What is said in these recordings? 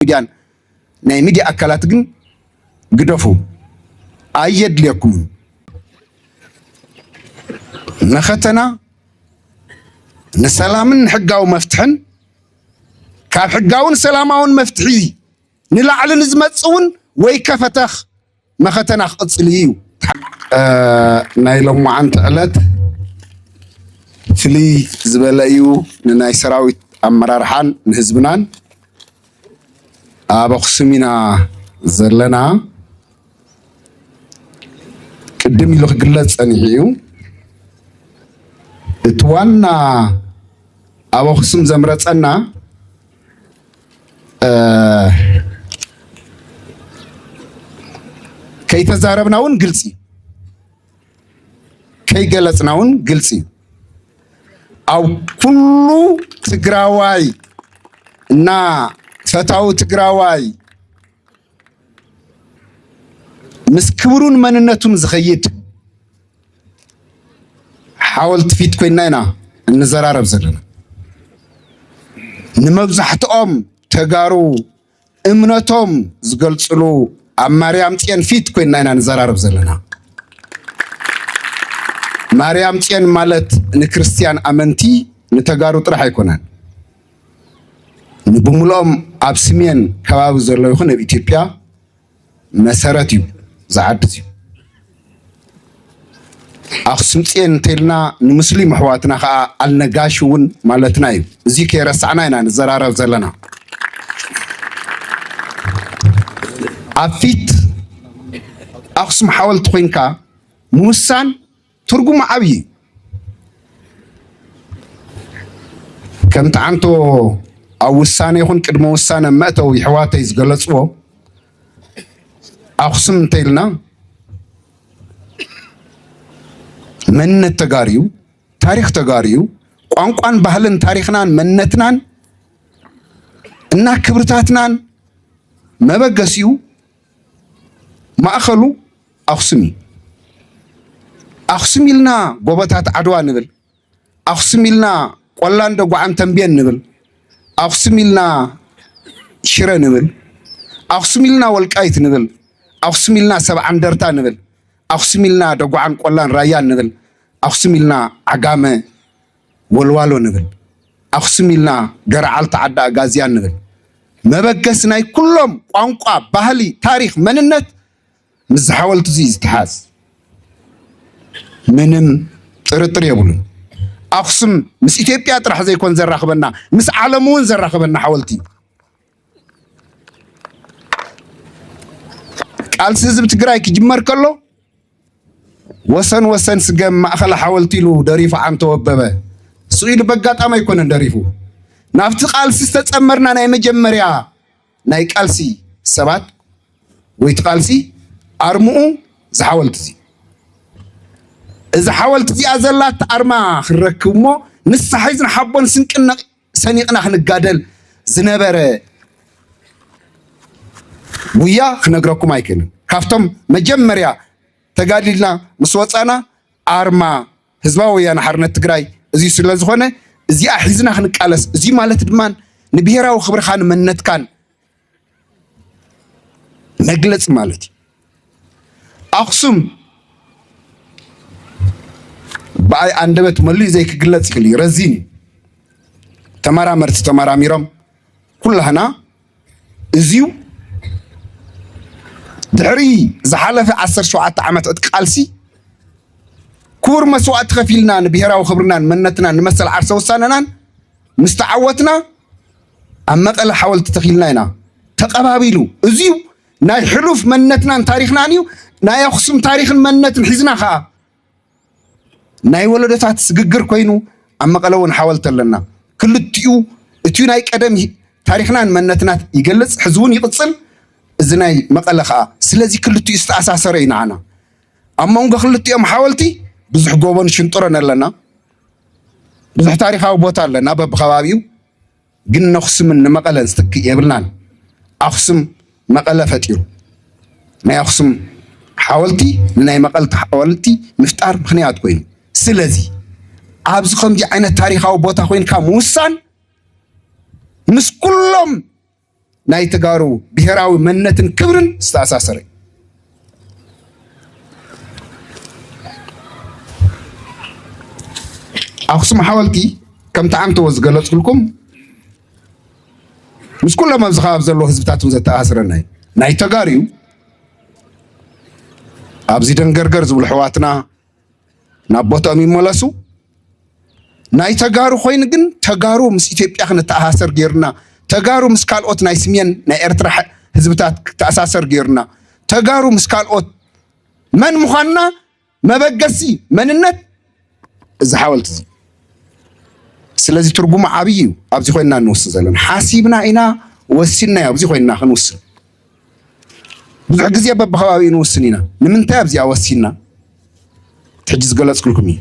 ሚድያን ናይ ሚድያ ኣካላት ግን ግደፉ፣ ኣየድልየኩምን። መኸተና ንሰላምን ንሕጋዊ መፍትሕን ካብ ሕጋውን ሰላማውን መፍትሒ ንላዕሊ ንዝመጽእ እውን ወይ ከፈተኽ መኸተና ክቕፅል እዩ ናይ ሎማዓንቲ ዕለት ፍልይ ዝበለ እዩ ንናይ ሰራዊት ኣመራርሓን ንህዝብናን ኣብ ኣክሱም ኢና ዘለና ቅድም ኢሉ ክግለፅ ፀኒሑ እዩ እቲ ዋና ኣብ ኣክሱም ዘምረፀና ከይተዛረብና እውን ግልፂ እዩ ከይገለፅና እውን ግልፂ እዩ ኣብ ኩሉ ትግራዋይ እና ፈታዊ ትግራዋይ ምስ ክብሩን መንነቱን ዝኸይድ ሓወልቲ ፊት ኮይና ኢና እንዘራረብ ዘለና። ንመብዛሕትኦም ተጋሩ እምነቶም ዝገልፅሉ ኣብ ማርያም ፅዮን ፊት ኮይና ኢና ንዘራረብ ዘለና። ማርያም ፅዮን ማለት ንክርስትያን ኣመንቲ ንተጋሩ ጥራሕ ኣይኮነን። ንብምልኦም ኣብ ስሜን ከባቢ ዘሎ ይኹን ኣብ ኢትዮጵያ መሰረት እዩ እዚ ዓዲ እዚ። ኣኽሱም ፅዮን እንተይልና ንምስሊም ኣሕዋትና ከዓ ኣልነጋሽ እውን ማለትና እዩ። እዚ ከይረሳዕና ኢና ንዘራረብ ዘለና። ኣብ ፊት ኣኽሱም ሓወልቲ ኮይንካ ምውሳን ትርጉሙ ዓብዪ እዩ። ከም ጠዓንቶ ኣብ ውሳነ ይኹን ቅድመ ውሳነ መእተው ይሕዋተይ ዝገለፅዎ ኣኽሱም እንተይልና መንነት ተጋርዩ ታሪክ ተጋርዩ ቋንቋን ባህልን ታሪክናን መንነትናን እና ክብርታትናን መበገሲኡ ማእኸሉ ኣኽሱም እዩ። ኣኽሱም ኢልና ጎቦታት ዓድዋ ንብል፣ ኣኽሱም ኢልና ቆላን ደጉዓን ተንቤን ንብል፣ ኣኽሱም ኢልና ሽረ ንብል፣ ኣኽሱም ኢልና ወልቃይት ንብል፣ ኣኽሱም ኢልና ሰብዓ እንደርታ ንብል፣ ኣኽሱም ኢልና ደጉዓን ቆላን ራያን ንብል፣ ኣኽሱም ኢልና ዓጋመ ወልዋሎ ንብል፣ ኣኽሱም ኢልና ገረዓልታ ዓዲ ኣጋዝያን ንብል። መበገሲ ናይ ኩሎም ቋንቋ፣ ባህሊ፣ ታሪኽ፣ መንነት ምስዚ ሓወልቲ'ዚ እዩ ዝተሓዝ። ምንም ጥርጥር የብሉን። ኣኽሱም ምስ ኢትዮጵያ ጥራሕ ዘይኮን ዘራኽበና ምስ ዓለም እውን ዘራኽበና ሓወልቲ እዩ። ቃልሲ ህዝቢ ትግራይ ክጅመር ከሎ ወሰን ወሰን ስገም ማእኸል ሓወልቲ ኢሉ ደሪፉ ዓንቶ ወበበ። እሱ ኢሉ በጋጣሚ ኣይኮነን ደሪፉ። ናብቲ ቃልሲ ዝተፀመርና ናይ መጀመርያ ናይ ቃልሲ ሰባት ወይ እቲ ቃልሲ ኣርምኡ እዚ ሓወልቲ እዚ እዚ ሓወልቲ እዚኣ ዘላት ኣርማ ክንረክብ እሞ ንሳ ሒዝን ሓቦን ስንቅን ሰኒቕና ክንጋደል ዝነበረ ጉያ ክነግረኩም ኣይክእልን። ካብቶም መጀመርያ ተጋዲልና ምስ ወፃና ኣርማ ህዝባዊ ወያነ ሓርነት ትግራይ እዚ ስለ ዝኾነ እዚኣ ሒዝና ክንቃለስ እዚ ማለት ድማ ንብሔራዊ ክብርኻን መንነትካን መግለፂ ማለት እዩ። ኣኽሱም ብኣይ ኣንደበት መሊኡ ዘይክግለፅ ይኽእል እዩ፣ ረዚን እዩ። ተመራመርቲ ተመራሚሮም ኩላህና እዚዩ ድሕሪ ዝሓለፈ 17 ዓመት ዕጥቂ ቃልሲ ክቡር መስዋእቲ ከፊልና ንብሔራዊ ክብርናን መንነትናን ንመሰል ዓርሰ ውሳነናን ምስ ተዓወትና ኣብ መቀለ ሓወልቲ ተኺልና ኢና ተቀባቢሉ እዚዩ ናይ ሕሉፍ መንነትናን ታሪኽናን እዩ። ናይ ኣኽሱም ታሪኽን መንነትን ሒዝና ከዓ ናይ ወለዶታት ስግግር ኮይኑ ኣብ መቐለ እውን ሓወልቲ ኣለና። ክልቲኡ እቲ ናይ ቀደም ታሪኽናን መንነትናት ይገልፅ ሕዚ እውን ይቕፅል እዚ ናይ መቐለ ከዓ ስለዚ ክልቲኡ ዝተኣሳሰረ እዩ ንዓና። ኣብ መንጎ ክልቲኦም ሓወልቲ ብዙሕ ጎቦን ሽንጥሮን ኣለና። ብዙሕ ታሪኻዊ ቦታ ኣለና በብከባቢኡ ግን ነኹስምን ንመቐለን ዝትክእ የብልናን። ኣኹስም መቐለ ፈጢሩ። ናይ ኣኹስም ሓወልቲ ንናይ መቐልቲ ሓወልቲ ምፍጣር ምክንያት ኮይኑ። ስለዚ ኣብዚ ከምዚ ዓይነት ታሪኻዊ ቦታ ኮይንካ ምውሳን ምስ ኩሎም ናይ ተጋሩ ብሔራዊ መንነትን ክብርን ዝተኣሳሰረ እዩ። ኣክሱም ሓወልቲ ከምቲ ዓንተዎ ዝገለፅልኩም ምስ ኩሎም ኣብዚ ከባቢ ዘለዎ ህዝብታት እውን ዘተኣሳስረና እዩ። ናይ ተጋሩ ኣብዚ ደንገርገር ዝብሉ ኣሕዋትና ናብ ቦትኦም ይመለሱ። ናይ ተጋሩ ኮይኑ ግን ተጋሩ ምስ ኢትዮጵያ ክንተኣሳሰር ገይሩና፣ ተጋሩ ምስ ካልኦት ናይ ስሜን ናይ ኤርትራ ህዝብታት ክተኣሳሰር ገይሩና፣ ተጋሩ ምስ ካልኦት መን ምዃንና መበገሲ መንነት እዚ ሓወልቲ እዚ ስለዚ ትርጉሙ ዓብይ እዩ። ኣብዚ ኮይንና እንውስን ዘለና ሓሲብና ኢና ወሲንና ኣብዚ ኮይንና ክንውስን ብዙሕ ግዜ በብከባቢኡ ንውስን ኢና። ንምንታይ ኣብዚኣ ወሲንና? ሕጂ ዝገለጽኩልኩም እዩ።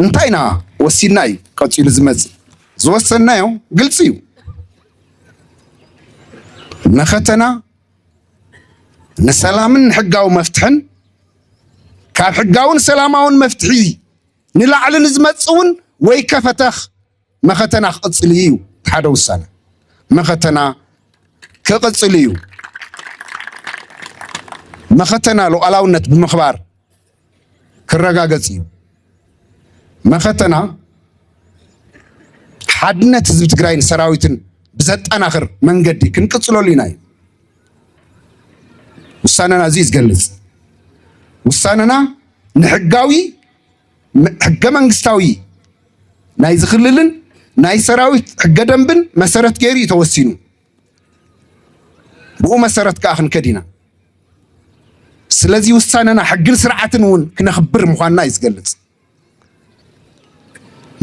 እንታይ ኢና ወሲንና እዩ ቀጺሉ ዝመጽእ። ዝወሰንናዮ ግልጺ እዩ። መኸተና ንሰላምን ንሕጋዊ መፍትሕን ካብ ሕጋውን ሰላማውን መፍትሒ ንላዕሊ ንዝመጽእ እውን ወይ ከፈተኽ መኸተና ክቕፅል እዩ እቲ ሓደ ውሳነ መኸተና ክቕፅል እዩ መኸተና ሉዓላውነት ብምኽባር ክረጋገፅ እዩ መኸተና ሓድነት ህዝቢ ትግራይን ሰራዊትን ብዘጠናኽር መንገዲ ክንቅፅለሉ ኢና እዩ ውሳነና እዚ ዝገልፅ ውሳነና ንሕጋዊ ሕገ መንግስታዊ ናይዚ ክልልን ናይ ሰራዊት ሕገ ደንብን መሰረት ገይሩ እዩ ተወሲኑ። ብኡ መሰረት ከዓ ክንከድ ኢና። ስለዚ ውሳነና ሕግን ስርዓትን እውን ክነኽብር ምዃንና እዩ ዝገልጽ።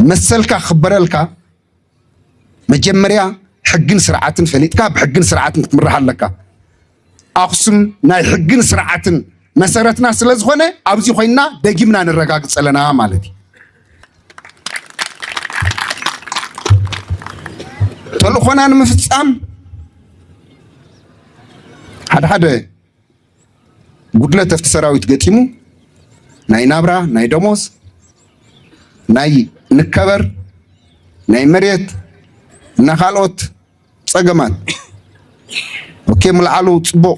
መሰልካ ክኽበረልካ መጀመርያ ሕግን ስርዓትን ፈሊጥካ ብሕግን ስርዓትን ክትምራሕ ኣለካ። ኣኽሱም ናይ ሕግን ስርዓትን መሰረትና ስለ ዝኾነ ኣብዚ ኮይና ደጊምና ነረጋግፅ ኣለና ማለት እዩ። ተልእኾና ንምፍፃም ሓደ ሓደ ጉድለት ኣብቲ ሰራዊት ገጢሙ ናይ ናብራ ናይ ደሞዝ ናይ ንከበር ናይ መሬት እና ካልኦት ፀገማት ኦኬ ምልዓሉ ፅቡቅ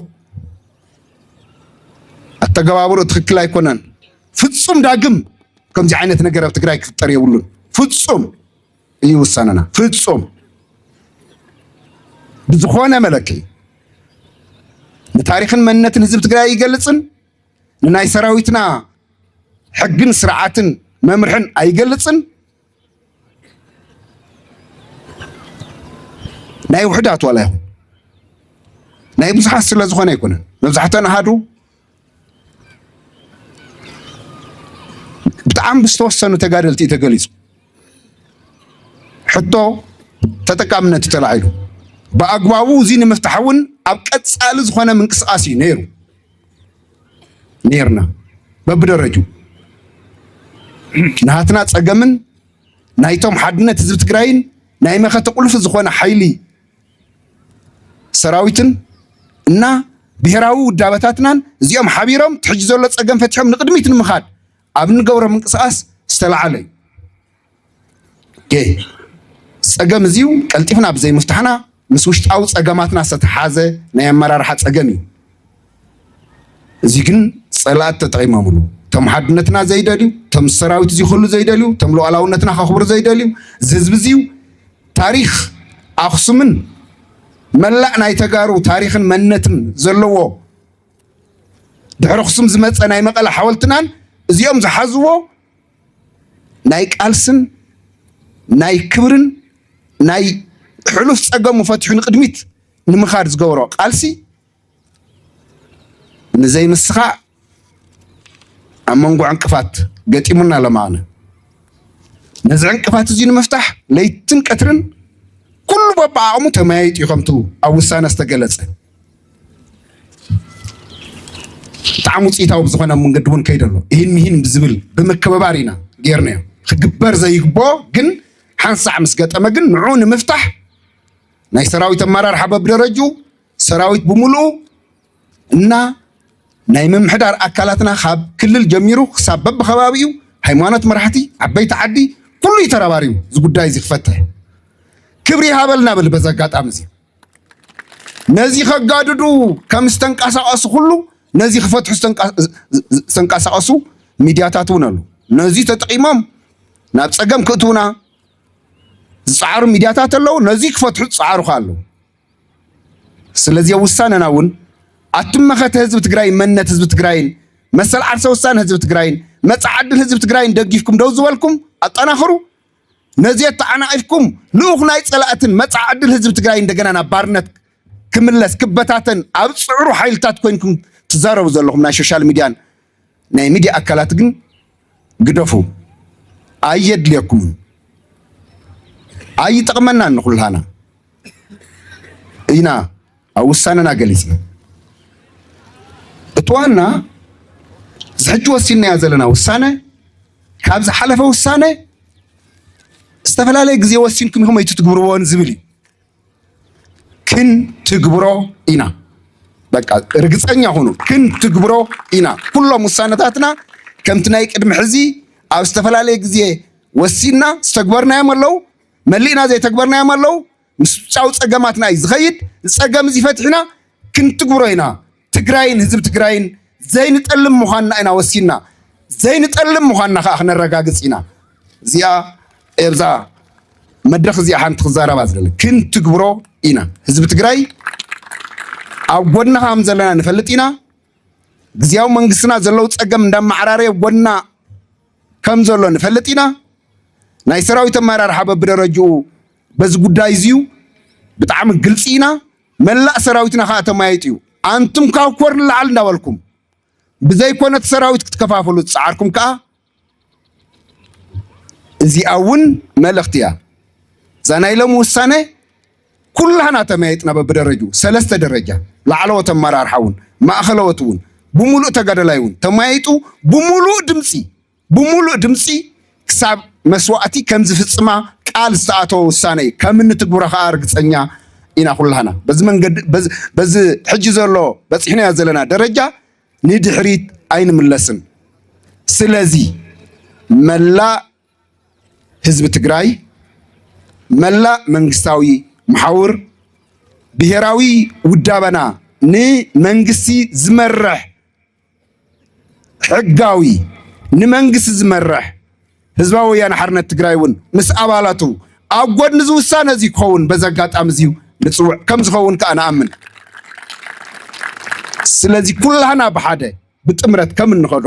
ኣተገባብሮ ትክክል ኣይኮነን። ፍፁም ዳግም ከምዚ ዓይነት ነገር ኣብ ትግራይ ክፍጠር የብሉን ፍፁም እዩ ውሳነና። ፍጹም ብዝኾነ መለክዒ ንታሪኽን መንነትን ህዝቢ ትግራይ ኣይገልፅን፣ ንናይ ሰራዊትና ሕግን ስርዓትን መምርሕን ኣይገልፅን፣ ናይ ውሕዳት ዋላ ይኹን ናይ ብዙሓት ስለ ዝኾነ ኣይኮነን። መብዛሕተን ኣሃዱ ብጣዕሚ ብዝተወሰኑ ተጋደልቲ እዩ ተገሊፁ። ሕቶ ተጠቃምነት እዩ ተላዒሉ። ብኣግባቡ እዚ ንምፍታሕ እውን ኣብ ቀፃሊ ዝኾነ ምንቅስቓስ እዩ ነይሩ ነይርና በብደረጁ ናትና ፀገምን ናይቶም ሓድነት ህዝቢ ትግራይን ናይ መኸተ ቁልፊ ዝኾነ ሓይሊ ሰራዊትን እና ብሔራዊ ውዳበታትናን እዚኦም ሓቢሮም ትሕጂ ዘሎ ፀገም ፈትሖም ንቅድሚት ንምኻድ ኣብ እንገብሮ ምንቅስቃስ ዝተለዓለ እዩ ፀገም እዚዩ ቀልጢፍና ብዘይምፍታሕና ምስ ውሽጣዊ ፀገማትና ዝተተሓዘ ናይ ኣመራርሓ ፀገም እዩ እዚ ግን ጸላእት ተጠቂሞምሉ ቶም ሓድነትና ዘይደልዩ ቶም ሰራዊት እዚ ኩሉ ዘይደልዩ ቶም ሉዓላውነትና ከኽብሩ ዘይደልዩ እዚ ህዝቢ እዚዩ ታሪኽ ኣኽሱምን መላእ ናይ ተጋሩ ታሪኽን መንነትን ዘለዎ ድሕሪ ኣኽሱም ዝመፀ ናይ መቐለ ሓወልትናን እዚኦም ዝሓዝዎ ናይ ቃልስን ናይ ክብርን ናይ ሕሉፍ ፀገሙ ፈትሑ ንቅድሚት ንምኻድ ዝገበሮ ቃልሲ ንዘይምስኻዕ ኣብ መንጎ ዕንቅፋት ገጢሙና ኣሎ ምዓነ ነዚ ዕንቅፋት እዚ ንምፍታሕ ለይትን ቀትርን ኩሉ በብዓቕሙ ተመያይጡ እዩ ከምቱ ኣብ ውሳነ ዝተገለጸ ብጣዕሚ ውፅኢታዊ ብዝኾነ መንገዲ እውን ከይደ ኣሎ ይህን ምሂን ብዝብል ብምክብባር ኢና ጌርናዮ ክግበር ዘይግቦ ግን ሓንሳዕ ምስ ገጠመ ግን ንዑ ንምፍታሕ ናይ ሰራዊት ኣመራርሓ በብደረጁ ሰራዊት ብምሉኡ እና ናይ ምምሕዳር ኣካላትና ካብ ክልል ጀሚሩ ክሳብ በብከባቢኡ ሃይማኖት መራሕቲ ዓበይቲ ዓዲ ኩሉ እዩ ተረባሪቡ እዚ ጉዳይ እዚ ክፈትሕ ክብሪ ይሃበልና ብል በዚ ኣጋጣሚ እዚ ነዚ ከጋድዱ ከም ዝተንቀሳቀሱ ኩሉ ነዚ ክፈትሑ ዝተንቀሳቀሱ ሚድያታት እውን ኣሉ ነዚ ተጠቂሞም ናብ ፀገም ክእትውና ዝፀዓሩ ሚድያታት ኣለው ነዚ ክፈትሑ ዝፀዓሩ ከ ኣለው ስለዚ ኣብ ውሳነና እውን ኣቱም መኸተ ህዝቢ ትግራይን መንነት ህዝቢ ትግራይን መሰል ዓርሰ ውሳነ ህዝቢ ትግራይን መፃ ዓድል ህዝቢ ትግራይን ደጊፍኩም ደው ዝበልኩም ኣጠናኽሩ ነዚ ተዓናቒፍኩም ልኡኽ ናይ ፀላእትን መፃ ዕድል ህዝቢ ትግራይ እንደገና ናብ ባርነት ክምለስ ክበታተን ኣብ ፅዕሩ ሓይልታት ኮይንኩም ትዛረቡ ዘለኹም ናይ ሶሻል ሚድያን ናይ ሚድያ ኣካላት ግን ግደፉ ኣየድልየኩምን ኣይጠቕመናን ንኹልሃና ኢና ኣብ ውሳነና ገሊፅና እቲ ዋና ዝሕጂ ወሲንናዮ ዘለና ውሳነ ካብ ዝሓለፈ ውሳነ ዝተፈላለየ ግዜ ወሲንኩም ኢኹም ኣይትትግብርዎን ዝብል እዩ ክንትግብሮ ኢና። በቃ ርግፀኛ ሁኑ፣ ክንትግብሮ ኢና። ኩሎም ውሳነታትና ከምቲ ናይ ቅድሚ ሕዚ ኣብ ዝተፈላለየ ግዜ ወሲንና ዝተግበርናዮም ኣለው፣ መሊእና ዘይተግበርናዮም ኣለው። ምስ ውጫዊ ፀገማትና እዩ ዝኸይድ። ፀገም እዚ ፈቲሕና ክንትግብሮ ኢና። ትግራይን ህዝቢ ትግራይን ዘይንጠልም ምዃንና ኢና ወሲንና ዘይንጠልም ምዃንና ከዓ ክነረጋግፅ ኢና እዚኣ ኤብዛ መድረክ እዚኣ ሓንቲ ክዛረባ ዝደለ ክንትግብሮ ኢና ህዝቢ ትግራይ ኣብ ጎድና ከም ዘለና ንፈልጥ ኢና ግዜያዊ መንግስትና ዘለው ፀገም እንዳመዓራረየ ጎድና ከም ዘሎ ንፈልጥ ኢና ናይ ሰራዊት ኣመራርሓ በብደረጅኡ በዚ ጉዳይ እዚዩ ብጣዕሚ ግልፂ ኢና መላእ ሰራዊትና ከኣ ተማይጥ'ዩ። ኣንቱም ካብ ኮር ንላዕሊ እንዳበልኩም ብዘይኮነ እቲ ሰራዊት ክትከፋፍሉ ዝጸዓርኩም ከኣ እዚኣ እውን መልእኽቲ እያ። እዛ ናይ ሎሚ ውሳነ ኩላህና ተመያይጥና በብደረጁ ሰለስተ ደረጃ ላዕለዎት ኣመራርሓ እውን ማእኸለዎት እውን ብምሉእ ተጋደላይ እውን ተመያይጡ ብምሉእ ድምፂ ብምሉእ ድምፂ ክሳብ መስዋእቲ ከምዝፍፅማ ቃል ዝተኣተወ ውሳነ እዩ ከም እንትግብሮ ከዓ ርግፀኛ ኢና ኩላህና በዚ መንገዲ በዚ ሕጂ ዘሎ በፂሕናዮ ዘለና ደረጃ ንድሕሪት ኣይንምለስን። ስለዚ መላእ ህዝቢ ትግራይ፣ መላእ መንግስታዊ መሓውር ብሄራዊ ውዳበና ንመንግስቲ ዝመርሕ ሕጋዊ ንመንግስቲ ዝመርሕ ህዝባዊ ወያነ ሓርነት ትግራይ እውን ምስ ኣባላቱ ኣብ ጎድኒ እዚ ውሳነ እዚ ክኸውን በዚ ኣጋጣሚ እዚዩ ንፅውዕ ከም ዝኸውን ከዓ ንኣምን። ስለዚ ኩላህና ብሓደ ብጥምረት ከም እንኸዶ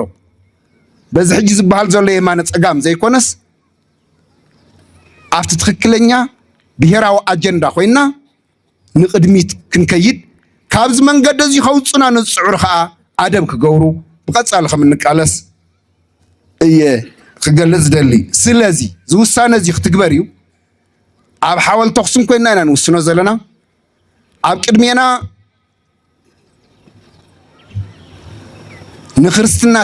በዚ ሕጂ ዝበሃል ዘሎ የማነ ፀጋም ዘይኮነስ ኣብቲ ትክክለኛ ብሔራዊ ኣጀንዳ ኮይና ንቕድሚት ክንከይድ ካብዚ መንገዲ እዚ ከውፁና ንዝፅዕሩ ከዓ ኣደብ ክገብሩ ብቐፃሊ ከም እንቃለስ እየ ክገልፅ ዝደሊ ስለዚ እዚ ውሳነ እዚ ክትግበር እዩ ኣብ ሓወል ተኽስን ኮይና ኢና ንውስኖ ዘለና ኣብ ቅድሜና ንክርስትና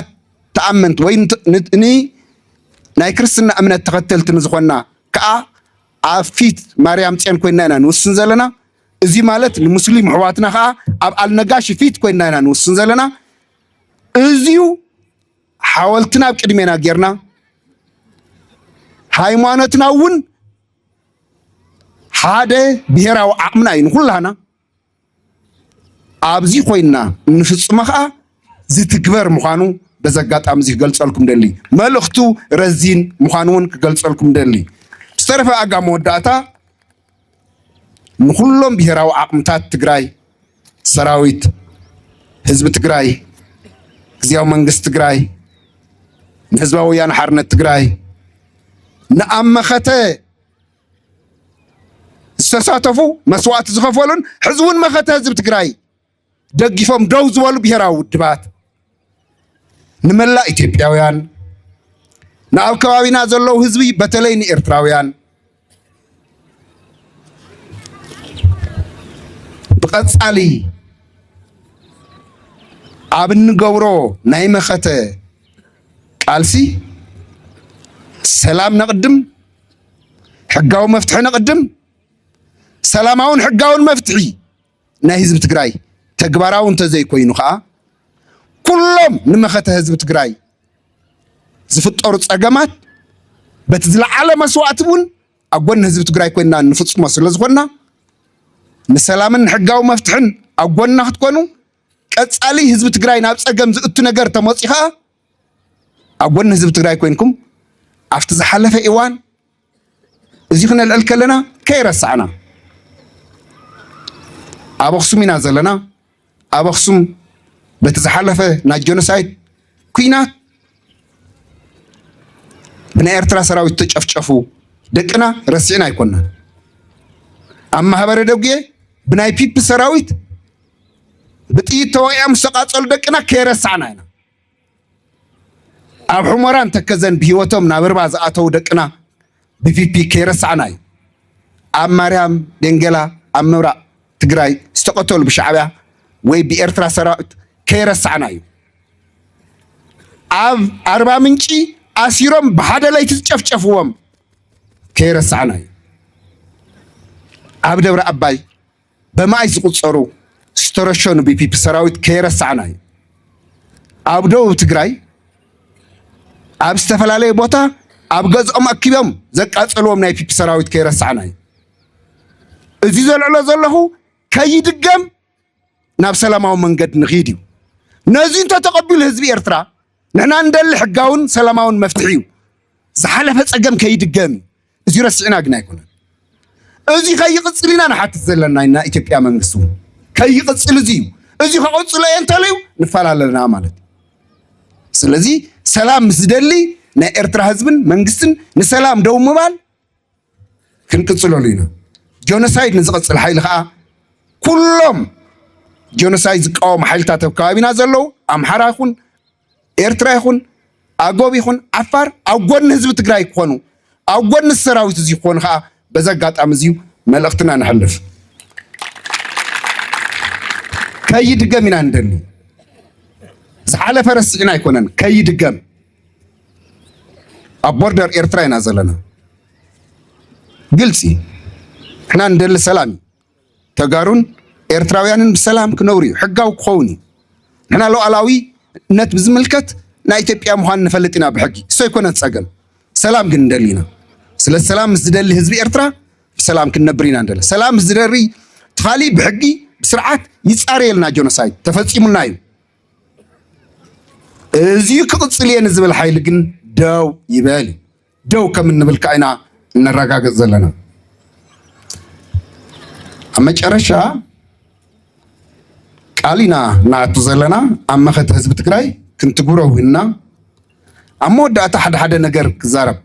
ተኣመንቲ ወይ ናይ ክርስትና እምነት ተኸተልቲ ንዝኾና ከዓ ኣብ ፊት ማርያም ጽዮን ኮይና ኢና ንውስን ዘለና። እዚ ማለት ንሙስሊም ኣሕዋትና ከዓ ኣብ ኣልነጋሽ ፊት ኮይና ኢና ንውስን ዘለና። እዚዩ ሓወልትና ኣብ ቅድሜና ጌርና ሃይማኖትና እውን ሓደ ብሄራዊ ዓቕምና እዩ ንኩላህና ኣብዚ ኮይንና እንፍጽሞ ከዓ ዝትግበር ምዃኑ በዚ ኣጋጣሚ እዚ ክገልጸልኩም ደሊ መልእኽቱ ረዚን ምዃኑ እውን ክገልጸልኩም ደሊ ዝተረፈ ኣጋ መወዳእታ ንኩሎም ብሄራዊ ዓቕምታት ትግራይ ሰራዊት ህዝቢ ትግራይ ግዜያዊ መንግስቲ ትግራይ ንህዝባዊ ወያነ ሓርነት ትግራይ ንኣመኸተ ዝተሳተፉ መስዋእቲ ዝኸፈሉን ሕዚ እውን መኸተ ህዝቢ ትግራይ ደጊፎም ደው ዝበሉ ብሔራዊ ውድባት ንመላእ ኢትዮጵያውያን ንኣብ ከባቢና ዘለዉ ህዝቢ በተለይ ንኤርትራውያን ብቐጻሊ ኣብ እንገብሮ ናይ መኸተ ቃልሲ ሰላም ነቕድም ሕጋዊ መፍትሒ ንቕድም፣ ሰላማውን ሕጋውን መፍትሒ ናይ ህዝቢ ትግራይ ተግባራዊ እንተዘይኮይኑ ከዓ ኩሎም ንመኸተ ህዝቢ ትግራይ ዝፍጠሩ ፀገማት በቲ ዝለዓለ መስዋእቲ እውን ኣብ ጎኒ ህዝቢ ትግራይ ኮይና ንፍፅሞ ስለዝኮና ንሰላምን ሕጋዊ መፍትሕን ኣብ ጎንና ክትኮኑ ቀፃሊ ህዝቢ ትግራይ ናብ ፀገም ዝእቱ ነገር ተመፅኡ ከዓ ኣብ ጎኒ ህዝቢ ትግራይ ኮይንኩም ኣብቲ ዝሓለፈ እዋን እዚ ክነልዕል ከለና ከይረሳዕና ኣብ ኣኽሱም ኢና ዘለና ኣብ ኣኽሱም በቲ ዝሓለፈ ናይ ጀኖሳይድ ኩናት ብናይ ኤርትራ ሰራዊት ተጨፍጨፉ ደቅና ረሲዕና ኣይኮናን ኣብ ማህበረ ደጉየ ብናይ ፒፒ ሰራዊት ብጥይት ተወቂዖም ዝተቃፀሉ ደቅና ከይረሳዕና ኢና ኣብ ሑመራን ተከዘን ብሂወቶም ናብ ርባ ዝኣተዉ ደቅና ብፒፒ ከይረሳዕና እዩ። ኣብ ማርያም ደንገላ ኣብ ምብራቅ ትግራይ ዝተቀተሉ ብሻዕቢያ ወይ ብኤርትራ ሰራዊት ከይረሳዕና እዩ። ኣብ ኣርባ ምንጪ ኣሲሮም ብሓደ ለይቲ ዝጨፍጨፍዎም ከይረሳዕና እዩ። ኣብ ደብረ ኣባይ በማኢት ዝቑፀሩ ዝተረሸኑ ብፒፒ ሰራዊት ከይረሳዕና እዩ። ኣብ ደቡብ ትግራይ ኣብ ዝተፈላለየ ቦታ ኣብ ገዝኦም ኣኪቦም ዘቃጸልዎም ናይ ፒፒ ሰራዊት ከይረሳዕና እዩ እዚ ዘልዕሎ ዘለኹ ከይድገም ናብ ሰላማዊ መንገድ ንኺድ እዩ ነዚ እንተተቐቢሉ ህዝቢ ኤርትራ ንሕና እንደሊ ሕጋውን ሰላማውን መፍትሒ እዩ ዝሓለፈ ጸገም ከይድገም እዩ እዚ ረሲዕና ግን ኣይኮነን እዚ ከይቕፅል ኢና ንሓትት ዘለና ኢና ኢትዮጵያ መንግስቲ እውን ከይቕፅል እዚ እዩ እዚ ከቐፅሎ እየ እንተልዩ ንፋል ኣለና ማለት እዩ ስለዚ ሰላም ምስ ዝደሊ ናይ ኤርትራ ህዝብን መንግስትን ንሰላም ደው ምባል ክንቅፅለሉ ኢና ጆኖሳይድ ንዝቐፅል ሓይሊ ከዓ ኩሎም ጆኖሳይድ ዝቃወሙ ሓይልታት ኣብ ከባቢና ዘለዉ ኣምሓራ ይኹን ኤርትራ ይኹን ኣጎብ ይኹን ዓፋር ኣብ ጎኒ ህዝቢ ትግራይ ክኾኑ ኣብ ጎኒ ሰራዊት እዚ ክኾኑ ከዓ በዚ ኣጋጣሚ እዚዩ መልእኽትና ንሕልፍ ከይድገም ኢና ንደሊ ዝሓለፈ ረሲዕና ኣይኮነን ከይድገም ኣብ ቦርደር ኤርትራ ኢና ዘለና ግልፂ ንሕና ንደሊ ሰላም እዩ ተጋሩን ኤርትራውያንን ብሰላም ክነብሩ እዩ፣ ሕጋዊ ክኸውን እዩ። ንሕና ሉዓላዊነት ብዝምልከት ናይ ኢትዮጵያ ምዃን ንፈልጥ ኢና ብሕጊ፣ እሱ ኣይኮነን ጸገም። ሰላም ግን ንደሊ ኢና። ስለ ሰላም ምስ ዝደሊ ህዝቢ ኤርትራ ብሰላም ክንነብር ኢና ንደሊ። ሰላም ምስ ዝደሪ ትኻሊ ብሕጊ ብስርዓት ይጻረየልና ጆኖሳይድ ተፈጺሙና እዩ። እዚዩ ክቕጽል እየ ንዝብል ሓይሊ ግን ደው ይበል እዩ። ደው ከም እንብል ከዓ ኢና እነረጋግፅ ዘለና። ኣብ መጨረሻ ቃል ኢና ንኣቱ ዘለና ኣብ መኸተ ህዝቢ ትግራይ ክንትግብሮ ውህና ኣብ መወዳእታ ሓደ ሓደ ነገር ክዛረብ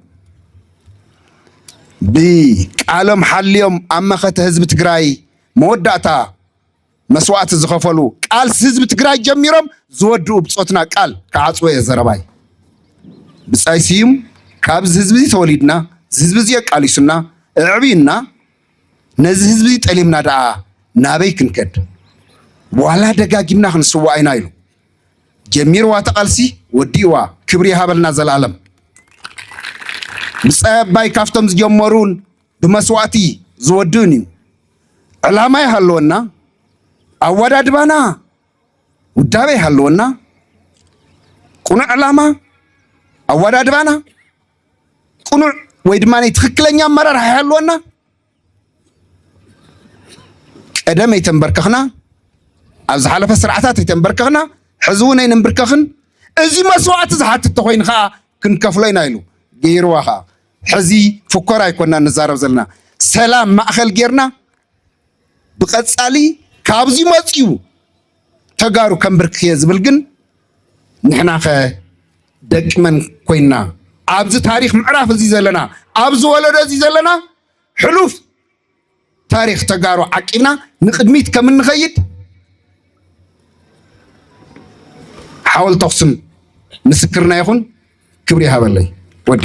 ብቃሎም ሓልዮም ኣብ መኸተ ህዝቢ ትግራይ መወዳእታ መስዋእቲ ዝኸፈሉ ቃልሲ ህዝቢ ትግራይ ጀሚሮም ዝወድኡ ብፆትና ቃል ክዓፅዎ እየ ዘረባይ። ብፃይ ስዩም ካብዚ ህዝቢ እዚ ተወሊድና እዚ ህዝቢ እዚ ኣቃሊሱና እዕብዩና ነዚ ህዝቢ ጠሊምና ደኣ ናበይ ክንከድ ዋላ ደጋጊምና ክንስዋእ ኢና ኢሉ ጀሚርዋ ተቓልሲ ወዲእዋ ክብሪ ይሃበልና ዘላለም ብፃይ ኣባይ ካብቶም ዝጀመሩን ብመስዋእቲ ዝወድእን እዩ። ዕላማ ይሃለወና፣ ኣወዳድባና ውዳበ ይሃለወና፣ ቅኑዕ ዕላማ ኣወዳድባና ቅኑዕ ወይ ድማ ትክክለኛ ኣመራርሓ ይሃለወና ቀደም ኣይተንበርከኽና ኣብ ዝሓለፈ ስርዓታት ኣይተንበርከኽና ሕዚ እውን ኣይንንብርከኽን እዚ መስዋእቲ ዝሓትት ተኮይኑ ከዓ ክንከፍሎ ኢና ኢሉ ገይርዋ ከዓ ሕዚ ፉኮራ ኣይኮናን ንዛረብ ዘለና ሰላም ማእኸል ጌርና ብቀፃሊ ካብዚ መፅዩ ተጋሩ ከምብርክ እየ ዝብል ግን ንሕናኸ ደቂ መን ኮይና ኣብዚ ታሪክ ምዕራፍ እዚ ዘለና ኣብዚ ወለዶ እዚ ዘለና ሕሉፍ ታሪኽ ተጋሩ ዓቂብና ንቅድሚት ከም እንኸይድ ሓወልቲ ኣኽሱም ምስክርና ይኹን። ክብሪ ይሃበለይ ወዴ